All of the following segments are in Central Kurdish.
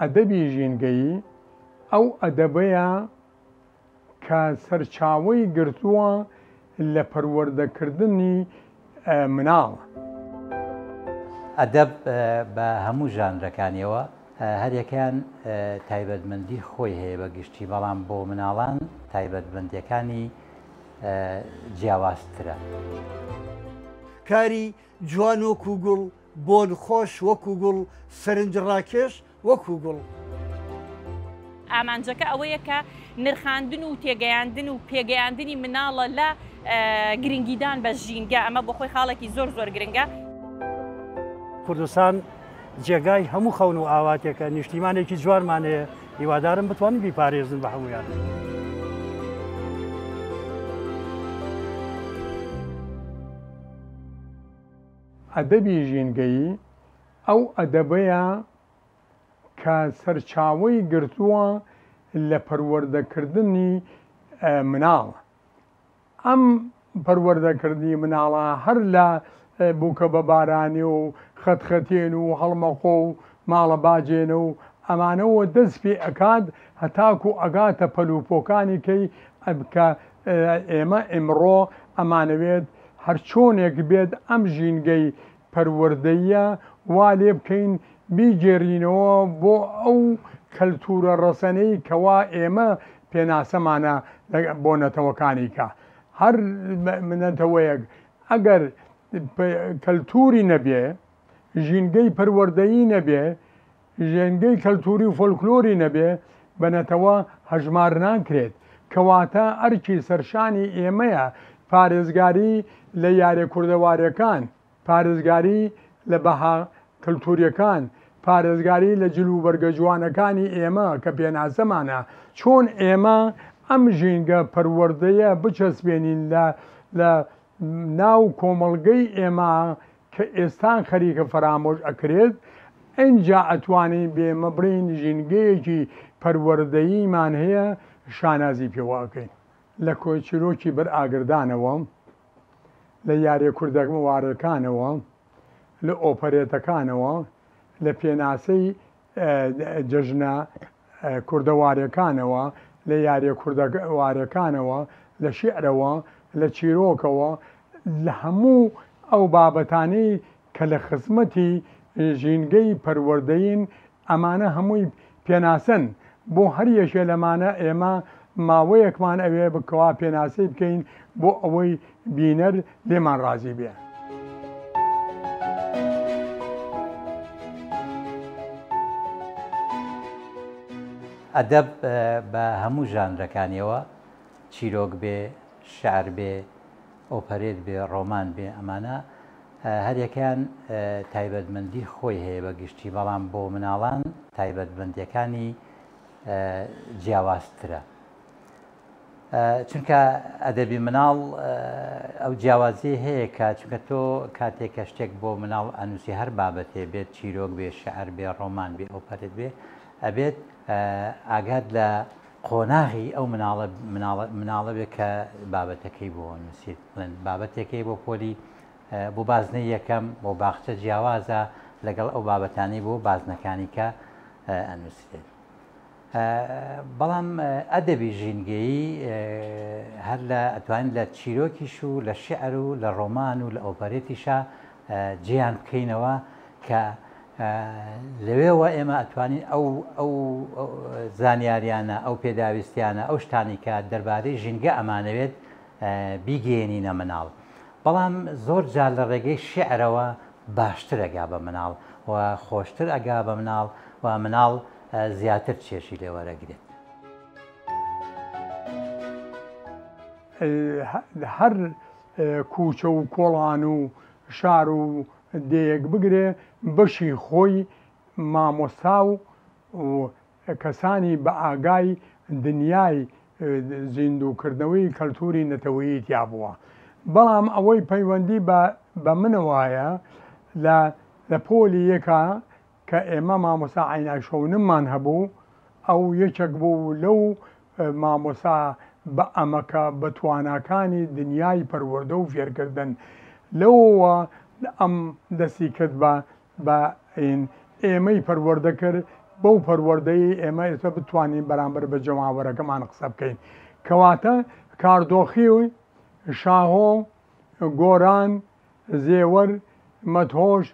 ئەدەبی ژینگەیی ئەو ئەدەبەیە کە سەرچاوەی گرتووە لە پەروەردەکردنی مناڵ. ئەدەب بە هەموو ژانرەکانیەوە هەریەکەیان تایبەتمەندی خۆی هەیە بە گشتی بەڵام بۆ مناڵان تایبەتمەندیەکانی، جیاوازترە. کاری جوان وەکو گوڵ، بۆن خۆش وەکو گوڵ، سەرنج ڕاکێش وەکو گوڵ. ئامانجەکە ئەوەیە کە نرخاندن و تێگەیاندن و پێگەیاندنی مناڵە لە گرنگیدان بە ژینگە، ئەمە بۆ خۆی خاڵێکی زۆر زۆر گرنگە. کوردستان جێگای هەموو خەون و ئاواتێکە، نیشتیمانێکی جوانمان هەیە، هیوادارم بتوانن بیپارێزن بە هەمویان. ئەدەبی ژینگەیی ئەو ئەدەبەیە کە سەرچاوەی گرتووە لە پەروەردەکردنی مناڵ ئەم پەروەردەکردنی مناڵە هەر لە بوکە بە بارانێ و خەتخەتێن و هەڵمەخۆ و ماڵە باجێنە و ئەمانەوە دەست پێ ئەکات هەتاکو ئەگاتە پەل و پۆکانی کەی کە ئێمە ئیمڕۆ ئەمانەوێت هەرچۆنێک بێت ئەم ژینگەی پەروەردەییە وا لێ بکەین بیگێڕینەوە بۆ ئەو کەلتوورە ڕەسەنەی کەوا ئێمە پێناسەمانە بۆ نەتەوەکانی کە هەر نەتەوەیەک ئەگەر کەلتووری نەبێ ژینگەی پەروەردەیی نەبێ ژینگەی کەلتووری و فۆلکلۆری نەبێ بە نەتەوە هەژمار ناکرێت، کەواتە ئەرکی سەرشانی ئێمەیە پارێزگاری لە یارە کوردەواریەکان، پارێزگاری لە بەها کەلتووریەکان، پارێزگاری لە جل وبەرگە جوانەکانی ئێمە کە پێناسەمانە، چۆن ئێمە ئەم ژینگە پەروەردەیە بچەسپێنین لە ناو کۆمەڵگەی ئێمە کە ئێستان خەریکە فەرامۆش ئەکرێت، ئنجا ئەتوانین بێمە بڵێین ژینگەیەکی پەروەردەییمان هەیە شانازی پێوە ئەکەین. لە کۆی چیرۆکی بەر ئاگردانەوە، لە یاریە کوردەوارەکانەوە، لە ئۆپەرێتەکانەوە، لە پێناسەی. جەژنە کوردەواریەکانەوە، لە یاریە کوردەواریەکانەوە، لە شیعرەوە، لە چیرۆکەوە، لە هەموو ئەو بابەتانەی کە لە خزمەتی ژینگەی پەروەردەین، ئەمانە هەمووی پێناسەن، بۆ هەر یەکێ لەمانە ئێمە ماوەیەکمان ئەوێ کەوا پێناسەی بکەین بۆ ئەوەی بینەر لێمان ڕازی بێ. ئەدەب بە هەموو ژانرەکانیەوە، چیرۆک بێ، شعر بێ، ئۆپەرێت بێ، ڕۆمان بێ، ئەمانە هەریەکەیان تایبەتمەندی خۆی هەیە بە گشتی، بەڵام بۆ مناڵان تایبەتمەندیەکانی جیاوازترە. چونکە ئەدەبی مناڵ ئەو جیاوازیەی هەیە کە چونکە تۆ کاتێک کە شتێک بۆ مناڵ ئەنووسی هەر بابەتێ بێت چیرۆک بێ شعر بێ ڕۆمان بێ ئەو پەرت بێ ئەبێت ئاگات لە قۆناغی ئەو مناڵە مناڵە بێ کە بابەتەکەی بۆ نووسیت بڵێن بابەتێکەکەی بۆ پۆلی بۆ بازنە یەکەم بۆ باخچە جیاوازە لەگەڵ ئەو بابەتانی بۆ بازنەکانی کە ئەنووسێت بەڵام ئەدەبی ژینگەیی هەر لە ئەتوانین لە چیرۆکیش و لە شیعر و لە ڕۆمان و لە ئۆپەرێتیشا جێیان بکەینەوە کە لەوێوە ئێمە ئەتوانین ئەو ئەو زانیاریانە ئەو پێداویستیانە ئەو شتانی کە دەربارەی ژینگە ئەمانەوێت بیگەێنینە مناڵ بەڵام زۆر جار لە ڕێگەی شعرەوە باشتر ئەگا بە مناڵ و خۆشتر ئەگا بە مناڵ و مناڵ زیاتر چێژی لێ وەرەگرێت. هەر کوچە و کۆڵان و شار و دێیەک بگرێ بەشی خۆی مامۆستا و کەسانی بە ئاگای دنیای زیندووکردنەوەی کەلتوری نەتەوەیی تیا بووە بەڵام ئەوەی پەیوەندی بە منەوەایە لە پۆلی یەکە کە ئێمە مامۆستا عەینای شەونممان هەبوو، ئەو یەکێک بوو لەو مامۆستا بە ئەمەکە بەتواناکانی دنیای پەروەردە و فێرکردن، لەوەوە ئەم دەستی کرد بە بە ین، ئێمەی پەروەردە کرد بەو پەروەردەی ئێمە ئێستا بتوانین بەرامبەر بە جەماوەرەکەمان قسە بکەین. کەواتە کاردۆخی شاهۆ، گۆران، زێوەر، مەدهۆش،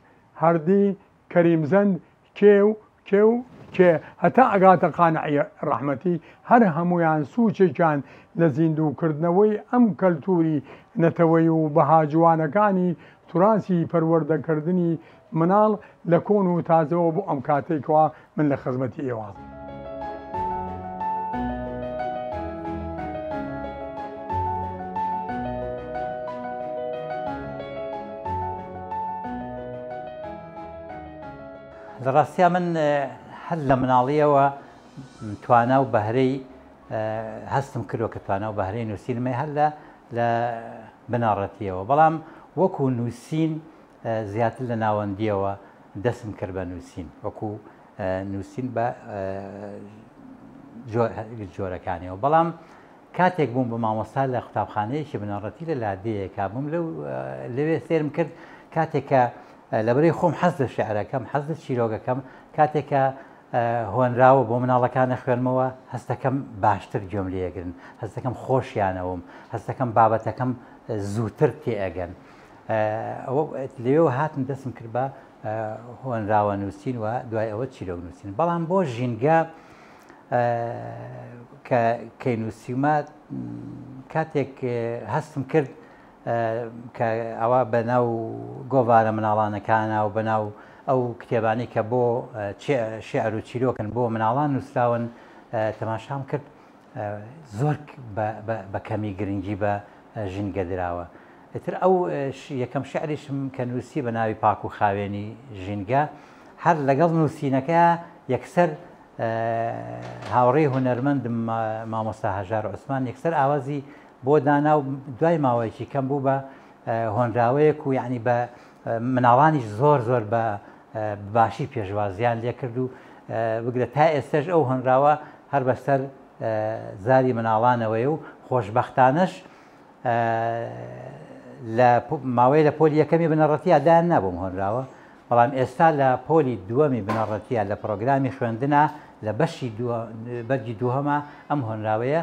هەردی، کەریمزەند، کێو، کێو، کێ، هەتا ئەگاتە قانعی ڕەحمەتی، هەر هەموویان سووچێکیان لە زیندووکردنەوەی ئەم کەلتووری نەتەوەیی و بەها جوانەکانی تراسی پەروەردەکردنی مناڵ لە کۆن و تازەوە بۆ ئەم کاتەی کەوا من لە خزمەتی ئێوە. لە ڕاستیا من هەر لە مناڵیەوە توانا و بەهرەی هەستم کردوە کە توانا و بەهرەی نووسینمە هەر لە لە بناڕەتیەوە بەڵام وەکو نووسین زیاتر لە ناوەندییەوە دەستم کرد بە نووسین وەکو نووسین بە جۆرەکانیەوە بەڵام کاتێک بووم بە مامۆستا لە قوتابخانەیەکی بنەڕەتی لە لادەیەکە بووم لەو لەوێ سێرم کرد کاتێکە لەبری خۆم حەز لە شعرەکەم حەز لە چیرۆگەکەم کاتێکە هۆنراوە بۆ مناڵەکانە خوێنمەوە هەستەکەم باشتر گوێم لێگرن هەستەکەم خۆشیانەوەم هەستەکەم بابەتەکەم زووتر تێئەگەن ئەوە لەوێوە هاتم دەستم کرد بە هۆنراوە نووسین و دوای ئەوە چیرۆک نووسین بەڵام بۆ ژینگە کە کەی نووسیمە کاتێک هەستم کرد کە ئەوە بە ناو گۆڤارە مناڵانەکانە و بەناو ئەو کتێبانی کە بۆ شعر و چیرۆکن بۆ مناڵان نووسراون تەماشام کرد زۆر بە کەمی گرنگی بە ژینگە دراوە. ئیتر ئەو یەکەم شعریشم کە نووسی بە ناوی پاک و خاوێنی ژینگە، هەر لەگەڵ نووسینەکە یەکسەر هاوڕێی هونەرمەندم مامۆستا هەژار عوسمان یەکسەر ئاوازی بۆ دانا و دوای ماوەیەکی کەم بوو بە هۆنراوەیەک و یعنی بە مناڵانیش زۆر زۆر بە باشی پێشوازیان لێکرد و بگرە تا ئێستەش ئەو هۆنراوە هەر بەسەر زاری مناڵانەوەی و خۆشببختانەش لە ماوەی لە پۆلی یەکەمی بنەڕەتیا دایان نابووم هۆنراوە بەڵام ئێستا لە پۆلی دووەمی بنەڕەتیا لە پرۆگرامی خوێندنا لە بەشی بەرگی دووهەما ئەم هۆنراوەیە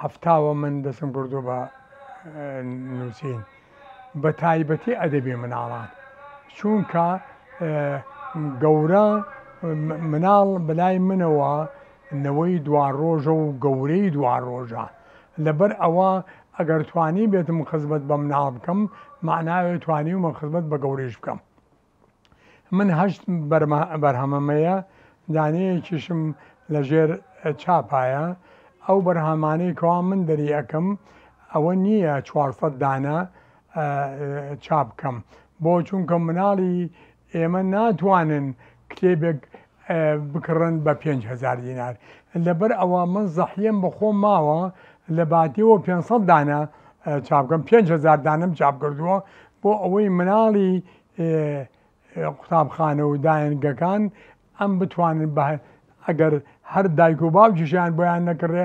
هەفتاوە من دەستم کردووە بە نووسین بە تایبەتی ئەدەبی مناڵان چونکە گەورە مناڵ بەلای منەوە نەوەی دوا ڕۆژە و گەورەی دوا ڕۆژە لەبەر ئەوە ئەگەر توانی بێتم خزمەت بە مناڵ بکەم معناوێ توانی ومە خزمەت بە گەورەش بکەم من هەشت بەرهەمەمەیە، دانەیەکیشم لە ژێر چاپایە، ئەو بەرهەمانەی کەوا من دەری ئەکەم ئەوە نییە چوار سەد دانە چاپ کەم، بۆ چونکە مناڵی ئێمە ناتوانن کتێبێک بکڕن بە پێنج هەزار دینار لەبەر ئەوە من زەحیەم بە خۆم ماوە لە باتیەوە پێنج سەد دانە چاپکەم پێنج هەزار دانەم چاپکردووە بۆ ئەوەی مناڵی قوتابخانە و دایەنگەکان ئەم بتوانن بە ئەگەر هەر دایک و باوکیشیان بۆیان نەکڕێ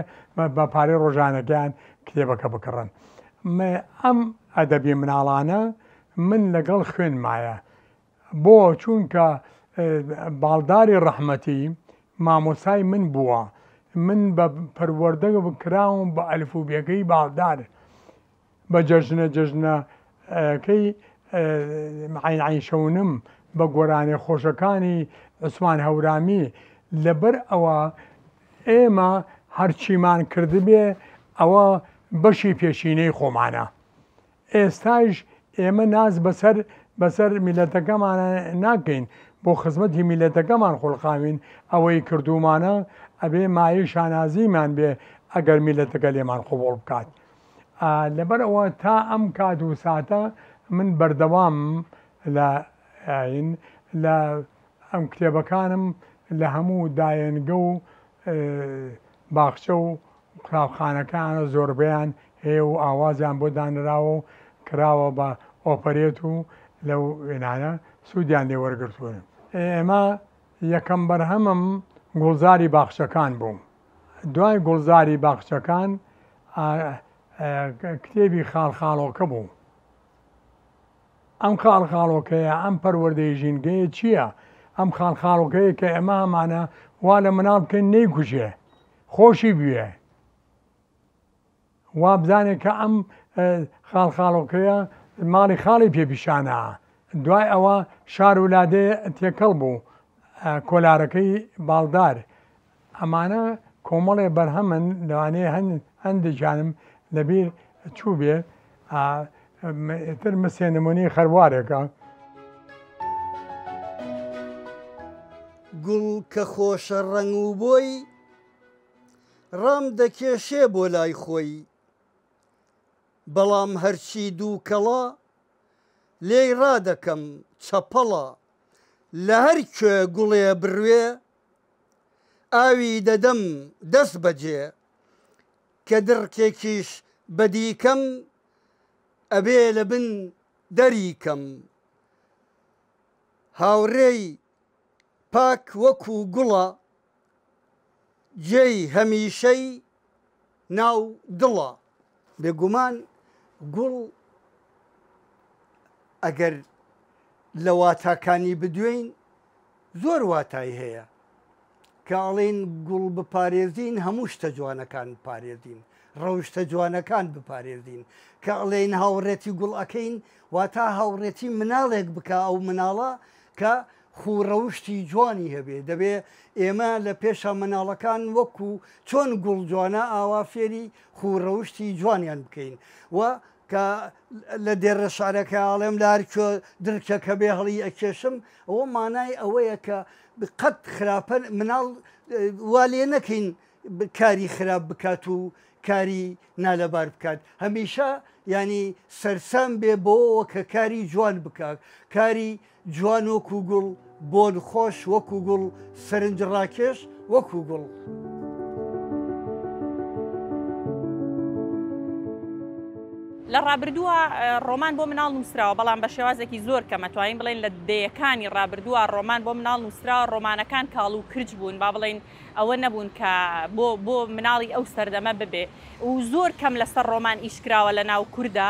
بە پارەی ڕۆژانەکەیان کتێبەکە بکڕن ئەم ئەدەبی مناڵانە من لەگەڵ خوێن مایە بۆ چونکە باڵداری ڕەحمەتی مامۆستای من بووە من بە پەروەردە کراوم بە ئەلفوبێکەی باڵدار بە جەژنە جەژنە کەی عین عین شەونم بە گۆرانێ خۆشەکانی عوسمان هەورامی لەبەر ئەوە ئێمە هەرچیمان کردبێ ئەوە بەشی پێشینەی خۆمانە ئێستایش ئێمە ناز بەسەر بەسەر میلەتەکەمانا ناکەین بۆ خزمەتی میلەتەکەمان خولقاوین ئەوەی کردومانە ئەبێ مایەی شانازیمان بێ ئەگەر میلەتەکە لێمان قبوڵ بکات ئا لەبەر ئەوە تا ئەم کات و ساتە من بەردەوام لە ئاین لە ئەم کتێبەکانم لە هەموو دایەنگە و باخچە و قوتابخانەکەیانە زۆربەیان هەیە و ئاوازیان بۆ دانراوە و کراوە بە ئۆپەرێت و لەو وێنانە سوودیان لێ وەرگرتوون. ئێمە یەکەم بەرهەمم گوڵزاری باخچەکان بوو. دوای گوڵزاری باخچەکان کتێبی خاڵخاڵۆکە بوو. ئەم خاڵخاڵۆکەیە، ئەم پەروەردەی ژینگەیە چییە؟ ئەم خاڵخاڵۆکەیە کە ئێمە ئەمانە وا لە مناڵ بکەین نەیکوژێ. خۆشی بوێ وابزانێ کە ئەم خاڵ خاڵۆکەیە ماڵی خاڵی پێپیشانە دوای ئەوە شار و لادێ تێکەڵ بوو کۆلارەکەی باڵدار ئەمانە کۆمەڵێ بەرهەمن لەوانەیە هەن هەندێکیانم لەبیر چوو بێ ئا ئیتر مسێ نمونەی خەروارێکە. گوڵ کە خۆشە ڕەنگ و بۆی، ڕام دەکێشێ بۆ لای خۆی، بەڵام هەرچی دووکەڵە، لێی ڕادەکەم چەپەڵە، لە هەر کوێ گوڵێ بڕوێ، ئاوی دەدەم دەسبەجێ، کە دڕکێکیش بەدی کەم ئەبێ لە بن دەری کەم هاوڕێی پاک وەکو گوڵە جێی هەمیشەی ناو دڵە. بێگومان گوڵ ئەگەر لە واتاکانی بدوێین، زۆر واتای هەیە کە ئەڵێین گوڵ بپارێزین هەموو شتە جوانەکان بپارێزین ڕەوشتە جوانەکان بپارێزین کە ئەڵێین هاوڕێتی گوڵ ئەەکەین واتا هاوڕێتی مناڵێک بکە ئەو مناڵە کە خوڕەوشتی جوانی هەبێ دەبێ ئێمە لە پێشە مناڵەکان وەکو چۆن گوڵ جوانە ئاوا فێری خوڕەوشتی جوانیان بکەین و کە لە دێرە شارەکە ئاڵێم لە هەرکوێ درکەکە بێ هەڵی ئەکێشم ئەوە مانای ئەوەیە کە قەت خراپە مناڵ وا لێ نەکەین کاری خراپ بکات و کاری نالەبار بکات هەمیشە ینی سەرسام بێ بۆەوە کە کاری جوان بکات کاری جوان وەکوو گوڵ، بۆن خۆش وەکوو گوڵ، سەرنج ڕاکێش وەکوو گوڵ. لە ڕابردووە ڕۆمان بۆ مناڵ نووسراوە بەڵام بە شێوازێکی زۆر کەمە توانین بڵێن لە دەیەکانی ڕابردووە ڕۆمان بۆ مناڵ نووسراوە ڕۆمانەکان کاڵ و کرچ بوون با بڵین ئەوە نەبوون کە بۆ بۆ مناڵی ئەو سەردەمە ببێ و زۆر کەم لەسەر ڕۆمان ئیشکراوە لە ناو کووردا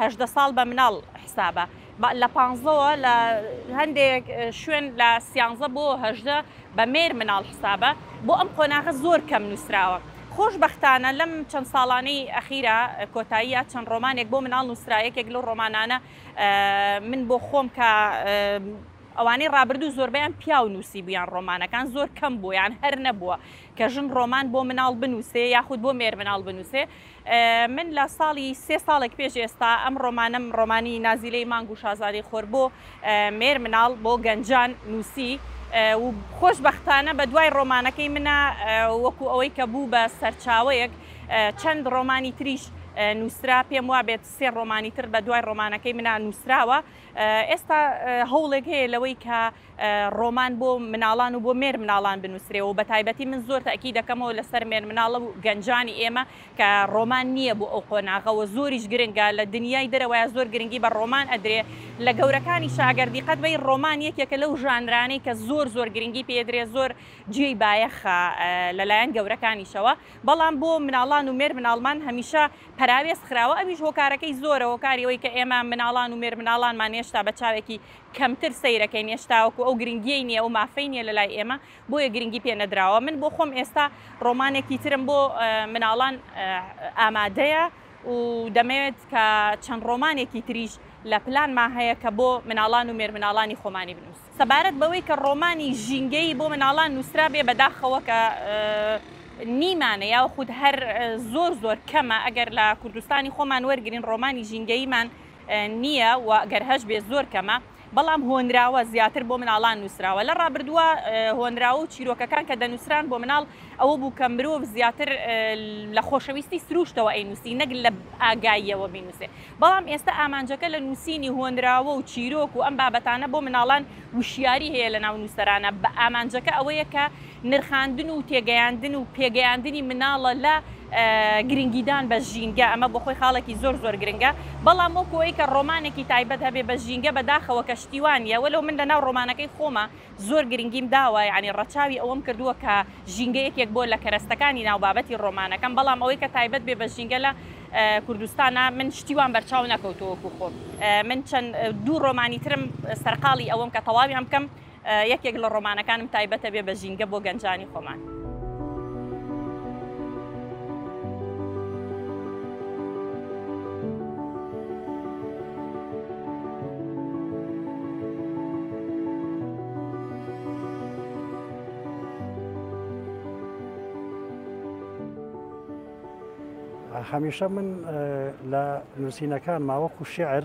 هەژدە ساڵ بە مناڵ حسابە لە پانزەوە لە هەندێک شوێن لە سیانزە بۆ هەژدە بە مێر مناڵ حسابە بۆ ئەم قۆناغە زۆر کەم نووسراوە خۆشببختانە لەم چەند ساڵانەی ئەخیرا کۆتاییە چەند ڕۆمانێک بۆ مناڵ نووسراەکێک لەو ڕۆمانانە من بۆ خۆم کە ئەوانەی ڕابردوو زۆربیان پیا و نووسی بوویان ڕۆمانەکان زۆر کەم بوویان هەر نەبووە کە ژن ڕۆمان بۆ مناڵ بنووسێ یاخود بۆ مێر مناڵ بنووسێ من لە ساڵی سێ ساڵێک پێش ئێستا ئەم ڕۆمانەم ڕۆمانی نازیلەی مانگ و شازادەی خۆر بۆ مێر مناڵ بۆ گەنجان نووسی و خۆش بەختانە بە دوای ڕۆمانەکەی منە وەکو ئەوەی کە بوو بە سەرچاوەیەک چەند ڕۆمانی تریش نووسرا پێم وا بێت سێ ڕۆمانی تر بە دوای ڕۆمانەکەی منا نووسراوە ئێستا هەوڵێک هەیە لەوەی کە ڕۆمان بۆ مناڵان و بۆ مێرمناڵان بنووسرێ و بەتایبەتی من زۆر تەئکید دەکەمەوە لەسەر مێرمناڵە و گەنجانی ئێمە کە ڕۆمان نییە بۆ ئەو قۆناغە و زۆریش گرنگە لە دنیای دەرەوەیا زۆر گرنگی بە ڕۆمان ئەدرێ لە گەورەکانیشا ئەگەر دیقەت بەی ڕۆمان یەکێکە لەو ژانرانەی کە زۆر زۆر گرنگی پێ ئەدرێ زۆر جێی بایەخە لە لایەن گەورەکانیشەوە بەڵام بۆ مناڵان و مێرمناڵمان هەمیشە پەراوێز خراوە ئەویش هۆکارەکەی زۆرە هۆکاری ئەوەی کە ئێمە مناڵان و مێرمناڵانمان هێشتا بە چاوێکی کەمتر سەیرەکەین هێشتاوەکو ئەو گرنگیەی نیە ئەو مافەی نیە لەلای ئێمە بۆیە گرنگی پێ نەدراوە من بۆ خۆم ئێستا ڕۆمانێکی ترم بۆ مناڵان ئامادەیە و دەمەوێت کە چەند ڕۆمانێکی تریش لە پلانما هەیە کە بۆ مناڵان و مێرمناڵانی خۆمانی بنووس سەبارەت بەوەی کە ڕۆمانی ژینگەیی بۆ مناڵان نووسرابێ بەداخەوە کە نیمانە یاخود هەر زۆر زۆر کەمە ئەگەر لە کوردستانی خۆمان وەرگرین ڕۆمانی ژینگەییمان نییە و گەر هەش بێ زۆر کەمە، بەڵام هۆنراوە، زیاتر بۆ مناڵان نووسراوە. لە ڕابردووە هۆنراوە و چیرۆکەکان کە دەنووسران بۆ مناڵ ئەوە بوو کە مرۆڤ زیاتر لە خۆشەویستی سرووشتەوە ئەینووسی نەک لە ئاگاییەوە بینووسێ. بەڵام ئێستە ئامانجەکە لە نووسینی هۆنراوە و چیرۆک و ئەم بابەتانە بۆ مناڵان وشیاری هەیە لە ناو نووسەرانە بە ئامانجەکە ئەوەیە کە نرخاندن و تێگەیاندن و پێگەیاندنی مناڵە لە گرنگیدان بە ژینگە، ئەمە بۆ خۆی خاڵێکی زۆر زۆر گرنگە، بەڵام وەکو ئەوەی کە ڕۆمانێکی تایبەت هەبێ بە ژینگە بە داخەوە کە شتی وا نییە، وەلەو من لەناو ڕۆمانەکەی خۆما زۆر گرنگیم داوە، یانی ڕەچاوی ئەوەم کردووە کە ژینگە یەکێک بۆ لە کەرەستەکانی ناو بابەتی ڕۆمانەکەم، بەڵام ئەوەی کە تایبەت بێ بە ژینگە لە کوردستانا من شتی وام بەرچاو نەکەوتووە وەکو خۆم، من چەند دوو ڕۆمانی ترم سەرقاڵی ئەوەم کە تەواویان بکەم، یەکێک لە ڕۆمانەکانم تایبەتە بێ بە ژینگە بۆ گەنجانی خۆمان. هەمیشە من لە نووسینەکان ماوەکو شعر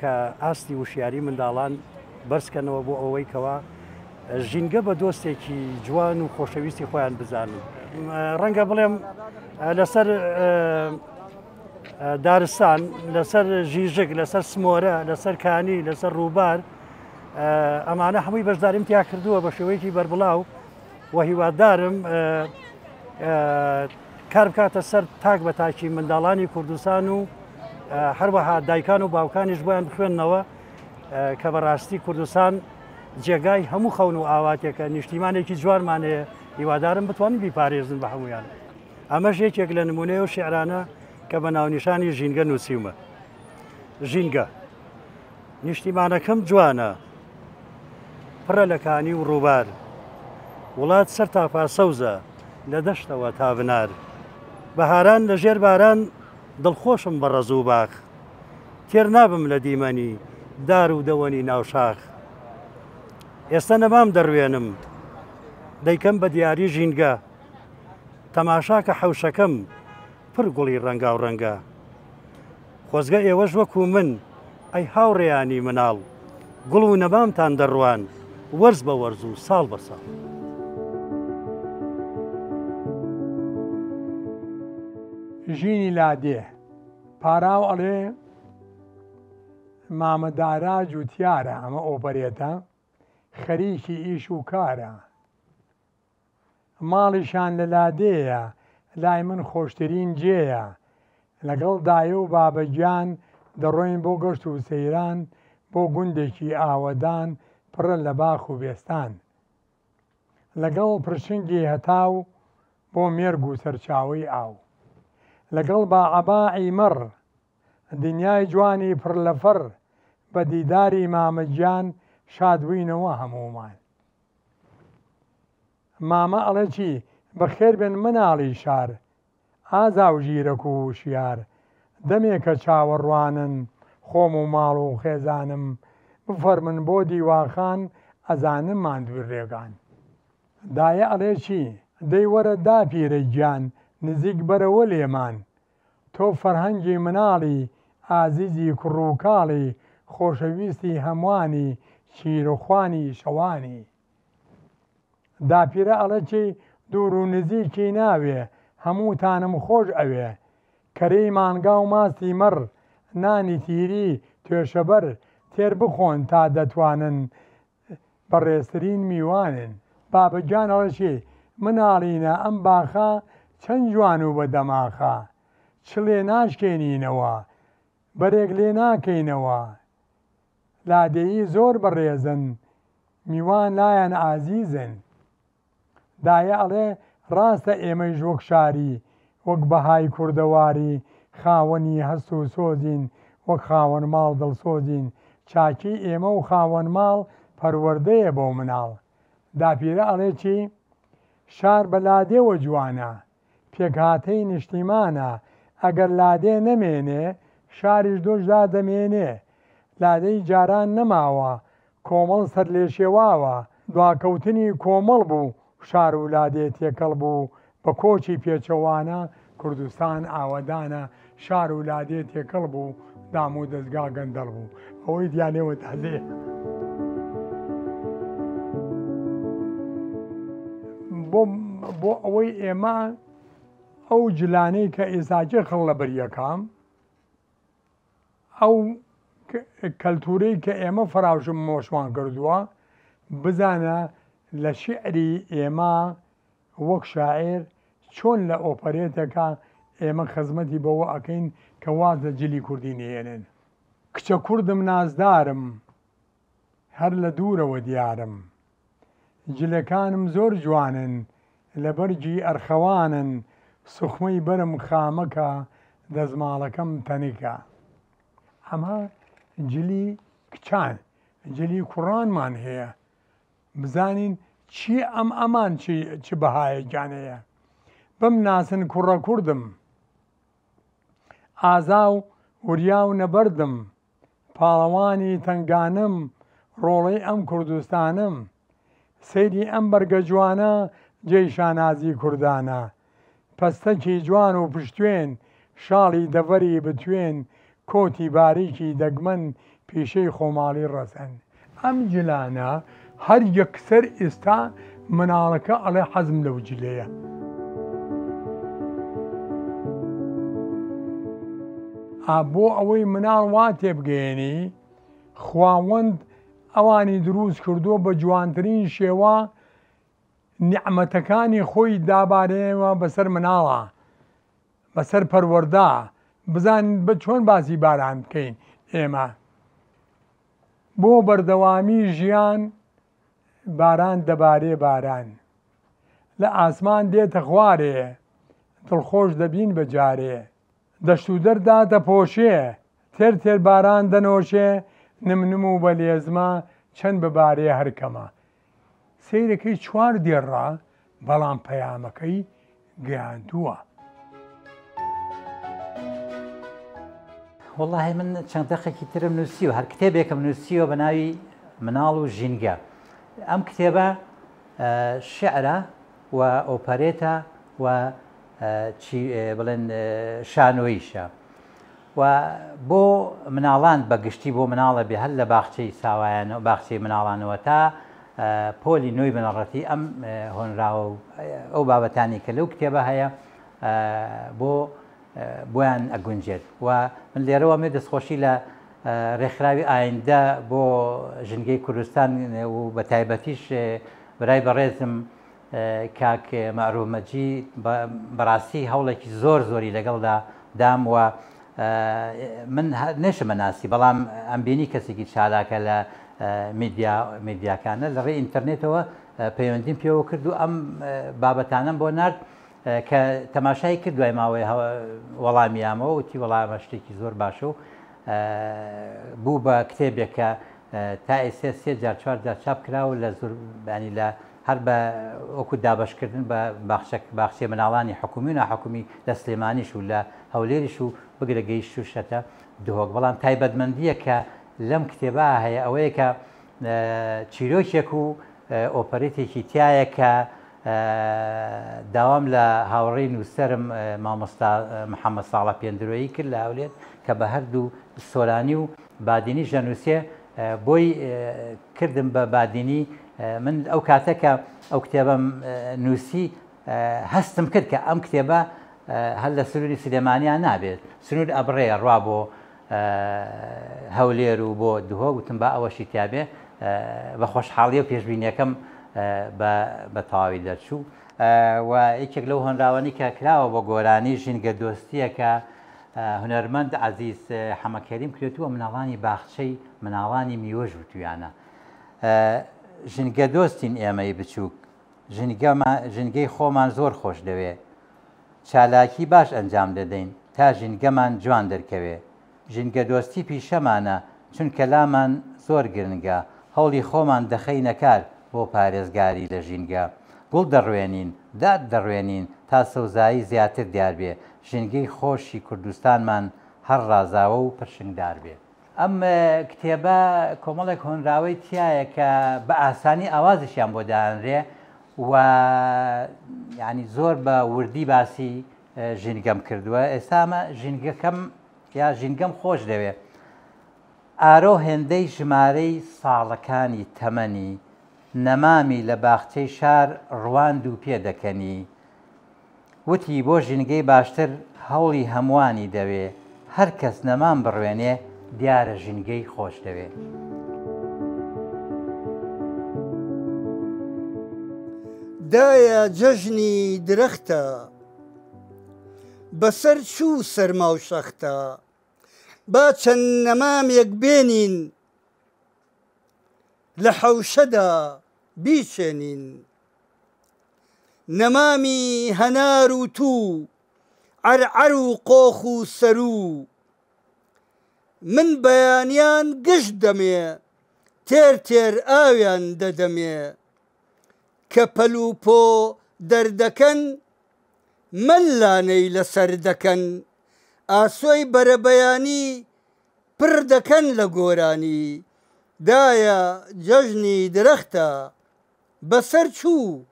کە ئاستی وشیاری منداڵان بەرزکەنەوە بۆ ئەوەی کەوا ژینگە بە دۆستێکی جوان و خۆشەویستی خۆیان بزانن ڕەنگە بڵێم لەسەر دارستان لەسەر ژیژک لەسەر سمۆرە لەسەر کانی لەسەر ڕووبار ئەمانە هەمووی بەشداریم تیا کردووە بە شێوەیەکی بەربڵاو و هیوادارم کار بکاتە سەر تاک بە تاکی منداڵانی کوردستان و هەروەها دایکان و باوکانیش بۆیان بخوێندنەوە کە بەڕاستی کوردستان جێگای هەموو خەون و ئاواتێکە نیشتیمانێکی جوانمانەیە هیوادارم بتوانین بیپارێزن بە هەمویان ئەمەش یەکێک لە نمونەیە و شعرانە کە بە ناونیشانی ژینگە نووسیومە ژینگە نیشتیمانەکەم جوانە، پڕە لە کانی و ڕووبار، وڵات سەر تاپا سەوزە، لە دەشتەوە تا بنار. بەهاران لە ژێر باران، دڵخۆشم بە ڕەز و باخ. تێر نابم لە دیمەنی دار و دەوەنی ناو شاخ. ئێستە نەمام دەڕوێنم، دەیکەم بە دیاری ژینگە. تەماشا کە حەوشەکەم، پڕ گوڵی ڕەنگاوڕەنگە. خۆزگە ئێوەش وەکو من، ئەی هاوڕێیانی مناڵ، گوڵ و نەمامتان دەڕواند وەرز بە وەرز و ساڵ بە ساڵ. ژینی لادێ پاراو ئەڵێ، مامە دارا جووتیارە، ئەمە ئۆپەرێتە، خەریکی ئیش و کارە. ماڵیشان لە لادێیە لای من خۆشترین جێیە لەگەڵ دایە و بابە گیان دەڕۆین بۆ گەشت و سەیران بۆ گوندێکی ئاوەدان پڕە لە باخ و بێستان لەگەڵ پرشنگی هەتاو بۆ مێرگ و سەرچاوەی ئاو لەگەڵ با عەباعی مەڕ دنیای جوانی پڕ لە فەڕ بە دیداری مامە گیان شاد بووینەوە هەموومان. مامە ئەڵێ چی؟ بەخێر بێن مناڵی شار. ئازا و ژیرەک و وشیار. دەمێکە چاوەڕوانن خۆم و ماڵ و خێزانم بفەرموون بۆ دیواخان ئەزانم ماندووی ڕێگان. دایە ئەڵێ چی؟ دەی وەرە داپیرە گیان نزیک بەرەوە لێمان تۆ فەرهەنگی مناڵی ئازیزی کوڕوکاڵی خۆشەویستی هەموانی چیروخوانی شەوانی داپیرە ئەڵێ چی دوورو نزیکی ناوێ هەموتانم خۆش ئەوێ کەرەی مانگاو ماستی مەڕ نانی تیری توێشەبەر تێر بخۆن تا دەتوانن بەڕێزترین میوانن. بابە گیان ئەڵێ چی مناڵینە ئەم باخە چەند جوان و بە دەماخە چ لێ ناشکێنینەوە بەرێک لێ ناکەینەوە لادێیی زۆر بەڕێزن میوان لایان ئازیزن. دایە ئەڵێ ڕاستە ئێمەیش وەک شاری وەک بەهای کوردەواری خاوەنی هەست و سۆزین وەک خاوەن ماڵ دڵسۆزین چاکی ئێمە و خاوەن ماڵ پەروەردەیە بۆ مناڵ داپیرە ئەڵێ چی شار بە لادێوە جوانە پێکهاتەی نیشتیمانە، ئەگەر لادێ نەمێنێ، شاریش دۆش دادەمێنێ. لادێی جاران نەماوە، کۆمەڵ سەرلێشێواوە. دواکەوتنی کۆمەڵ بوو شار و لادێ تێکەڵ بوو، بە کۆچی پێچەوانە کوردستان ئاوەدانە شار و لادێ تێکەڵ بوو، دام و دەزگا گەندەڵ بوو، ئەوەی دیانێ و تازێ. بۆ ئەوەی ئێمە ئەو جلانەی کە ئێزاجێ خەڵ لە بەریەکەم ئەو کەلتورەی کە ئێمە فراوشم مۆشمان کردووە بزانە لە شعری ئێمە وەک شاعیر چۆن لە ئۆپەرێتەکە ئێمە خزمەتی بەوە ئەکەین کە واز لە جلی کوردی نەهێنێت. کچە کوردم نازدارم هەر لە دوورەوە دیارم جلەکانم زۆر جوانن لە بەرگی ئەرخەوانن سوخمەی بەرم خامەکە دەزماڵەکەم تەنکە. ئەمە جلی کچان جلی کوڕانمان هەیە بزانین چیە ئەم ئەمان چی چ بەهایەکیان هەیە بم ناسن کوڕە کوردم ئازا و وریا و نەبەردم پاڵەوانی تەنگانەم ڕۆڵەی ئەم کوردستانەم سەیری ئەم بەرگە جوانە جێی شانازی کوردانە پەستەکی جوان و پشتوێن، شاڵی دەڤەری بتوێن، کۆتی باریکی دەگمەن، پیشەی خۆماڵی ڕەسەن. ئەم جلانە هەر یەکسەر ئیستا مناڵەکە ئەڵێ حەزم لەو جلەیە. ئا بۆ ئەوەی مناڵ وا تێبگەیەنی خواوەند ئەوانی دروست کردووە بە جوانترین شێوە نیعمەتەکانی خۆی دابارێنەوە بەسەر مناڵا بەسەر پەروەردا بزانین بە چۆن باسی باران بکەین ئێمە بۆ بەردەوامی ژیان باران دەبارێ باران لە ئاسمان دێتە خوارێ دڵخۆش دەبین بە جارێ دەشت و دەر دادەپۆشێ، تێر تێر باران دەنۆشێ، نم نم و بە لێزمە، چەند ببارێ هەر کەمە. سەیرەکەی چوار دێڕە، بەڵام پەیامەکەی گەیاندووە. وەڵاهی من چەند دەقێکی ترم نووسیوە، هەر کتێبێکم نووسیوە بە ناوی مناڵ و ژینگە. ئەم کتێبە شیعرە و ئۆپەرێتە و چی بڵێن شانۆیشە و بۆ مناڵان بە گشتی بۆ مناڵە بێ هەر لە باخچەی ساوایان و باخچەی مناڵانەوە تا پۆلی نوێی بنەڕەتی ئەم هۆنراوە و ئەو بابەتانی کە لەو کتێبە هەیە بۆ بۆیان ئەگونجێت و من لێرەوە مێ دەستخۆشی لە ڕێکخراوی ئایندە بۆ ژنگەی کوردستان و بە تایبەتیش برای بەڕێزم کاک مەعروف مەجید بەڕاستی هەوڵێکی زۆر زۆری لەگەڵدا دام و من نەشمە ناسی بەڵام ئەم بینی کەسێکی چالاکە لە میدیا میدیاکانە لە ڕێ ئینتەرنێتەوە پەیوەندیم پێوە کرد و ئەم بابەتانم بۆ نرد کە تەماشای کرد دوای ماوەی وەڵامیامەوە وتی وەڵامە شتێکی زۆر باشە و بوو بە کتێبێکە تا ئێسێ سێ جار چوار جار چاپ کراوە لە زوربانی لە هەر بە وەکو دابەشکردن بە باخچە باخچەی مناڵانی حکومی و ناحکومی لە سلێمانیش و لە هەولێریش و بگرە گەیشتوشەتە دهۆک بەڵام تایبەتمەندیەک کە لەم کتێبا هەیە ئەوەیە کە چیرۆکێک و ئۆپەرێتێکی تیایە کە داوام لە هاوڕێی نووسەرم مامۆستا محەممەد ساڵە پێندرۆیی کرد لە هەولێر کە بە هەردوو سۆرانی و بادینیش دەنووسێ بۆی کردم بە بادینی من ئەو کاتە کە ئەو کتێبم نووسی هەستم کرد کە ئەم کتێبە هەر لە سروری سلێمانیان نابێت سنوور ئەبڕێ ڕوا بۆ هەولێر و بۆ دهۆ گوتم با ئەوەشی تیاابێ بە خۆشحاڵی و پێشببینیەکەم بە تەواوی دەرچوو و یەکێک لەو هۆنراوانی کە کراوە بۆ گۆرانی ژینگە دۆستیەکە هونەرمەند عەزیز حەمە کەریم کرێتووە مناڵانی باخچەی مناڵانی میوەش وتویانە ژنگە دۆستین ئێمەی بچووک ژنگەی خۆمان زۆر خۆش دەوێ چالاکی باش ئەنجام دەدەین تا ژنگەمان جوان دەرکەوێ ژنگە دۆستی پیشەمانە چونکە لامان زۆر گرنگە هەوڵی خۆمان دەخەینە کار بۆ پارێزگاری لە ژینگە گوڵ دەڕوێنین داد دەڕوێنین تا سەوزایی زیاتر دیاربێ ژینگەی خۆشی کوردستانمان هەر ڕازاوە و پرشنگدار بێ. ئەم کتێبە کۆمەڵێک هۆنراوەی تیایە کە بە ئاسانی ئاوازیشیان بۆ دانرێ و یانی زۆر بە وردی باسی ژینگەم کردووە ئێستا ئەمە ژینگەکەم یا ژینگەم خۆش دەوێ ئارۆ هێندەی ژمارەی ساڵەکانی تەمەنی نەمامی لە باخچەی شار ڕوان دوو پێ دەکەنی وتی، بۆ ژینگەی باشتر هەوڵی هەمووانی دەوێ، هەر کەس نەمام بڕوێنێ دیارە ژینگەی خۆش دەوێ. دایە جەژنی درەختە بەسەر چوو سەرما و شەختە با چەند نەمامێک بێنین لە حەوشەدا بیچێنین نەمامی هەنار و توو عەرعەر و قۆخ و سەروو من بەیانیان گشت دەمێ تێر تێر ئاویان دەدەمێ کە پەل و پۆ دەردەکەن مەلانەی لەسەر دەکەن ئاسۆی بەرەبەیانی پڕ دەکەن لە گۆرانی دایە جەژنی درەختە بەسەر چوو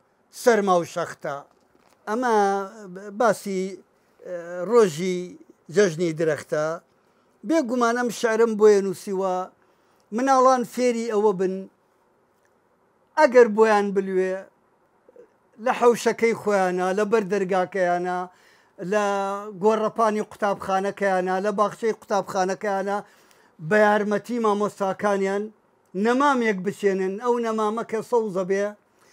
سەرما و شەختە. ئەمە باسی ڕۆژی جەژنی درەختە. بێ گومان ئەم شعرەم بۆیە نووسیوە مناڵان فێری ئەوە بن ئەگەر بۆیان بلوێ لە حەوشەکەی خۆیانا، لە بەر دەرگاکەیانا، لە گۆڕەپانی قوتابخانەکەیانا، لە باخچەی قوتابخانەکەیانا بە یارمەتی مامۆستاکانیان، نەمامێک بچێنن ئەو نەمامە کە سەوزە بێ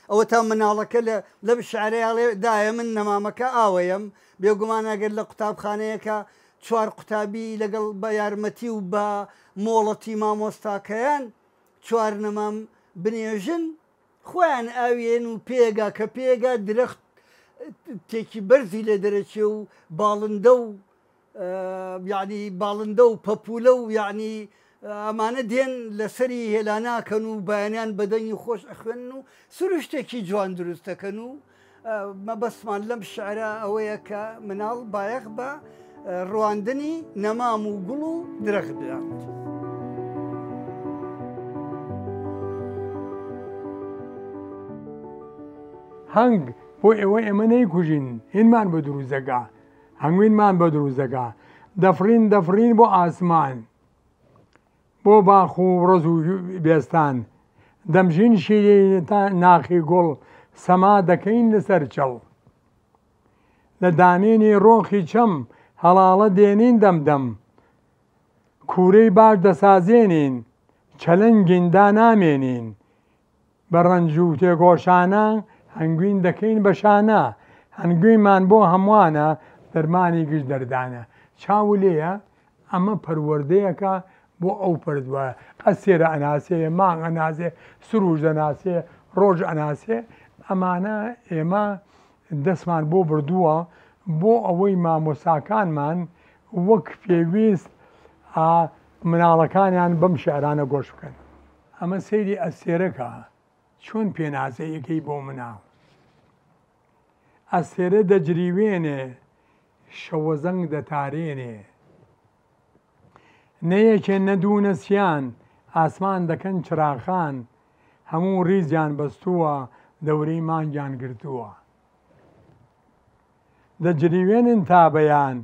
ئەوەتا مناڵەکە لە لەم شعرەی ئەڵێ دایە من نەمامەکە ئاوەیەم بێگومان ئەگەر لە قوتابخانەیەکە چوار قوتابی لەگەڵ بە یارمەتی و بە مۆڵەتی مامۆستاکەیان چوار نەمام بنێژن خۆیان ئاویێن و پێگا کە پێگا درەخت تێکی بەرزی لێ دەرەچێ و باڵندە و یەعنی باڵندە و پەپوولە و یەعنی ئەمانە دێن لەسەری هێلا ناکەن و بەیانیان بەدەنگی خۆش ئەخوێنن و سروشتێکی جوان دروست دەکەن و مەبەستمان لەم شعرە ئەوەیە کە مناڵ بایەخ بە ڕواندنی نەمام و گوڵ و درەخت بدات. هەنگ بۆ ئێوە ئێمە نەیکوژین هینمان بە دروزەگا هەنگوینمان بۆ دروست دەکا. دەفڕین دەفڕین بۆ ئاسمان. بۆ باخ و ڕز و بێستان. دەمژین شیرینی تا ناخی گوڵ. سەما دەکەین لەسەر چڵ. لە دامێنی ڕۆخی چەم. هەڵاڵە دێنین دەم دەم. کوورەی باش دەسازێنین. چەلەنگین دانامێنین. بە ڕەنج و تێکۆشانە هەنگوین دەکەین بە شانە هەنگوینمان بۆ هەموانە دەرمانی گشت دەردانە چاو لێیە ئەمە پەروەردەیەکە بۆ ئەو پەرتوە ئەستێرە ئەناسێ مانگ ئەناسێ سروش دەناسێ ڕۆژ ئەناسێ ئەمانە ئێمە دەستمان بۆ بردووە بۆ ئەوەی مامۆستاکانمان وەک پێویست مناڵەکانیان بەم شعرانە گۆش بکەن. ئەمە سەیری ئەستێرە کە چۆن پێناسەی ئەکەی بۆ مناڵ ئەستێرە دەجریوێنێ شەوەزەنگ دەتارێنێ نە یەکێ نە دوو نە سیان ئاسمان دەکەن چراخان هەموو ڕیزیان بەستووە دەورەی مانگیان گرتووە. دەجریوێنن تا بەیان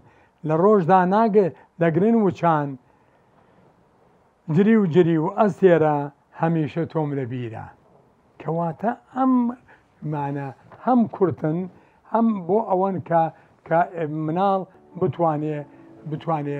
لە ڕۆژدا ناگە دەگرن وچان جریو جریو ئەستێرە هەمیشە تۆم لە بیرە کەواتە ئەم مانە هەم کورتن هەم بۆ ئەوەن کە کە مناڵ بتوانێ بتوانێ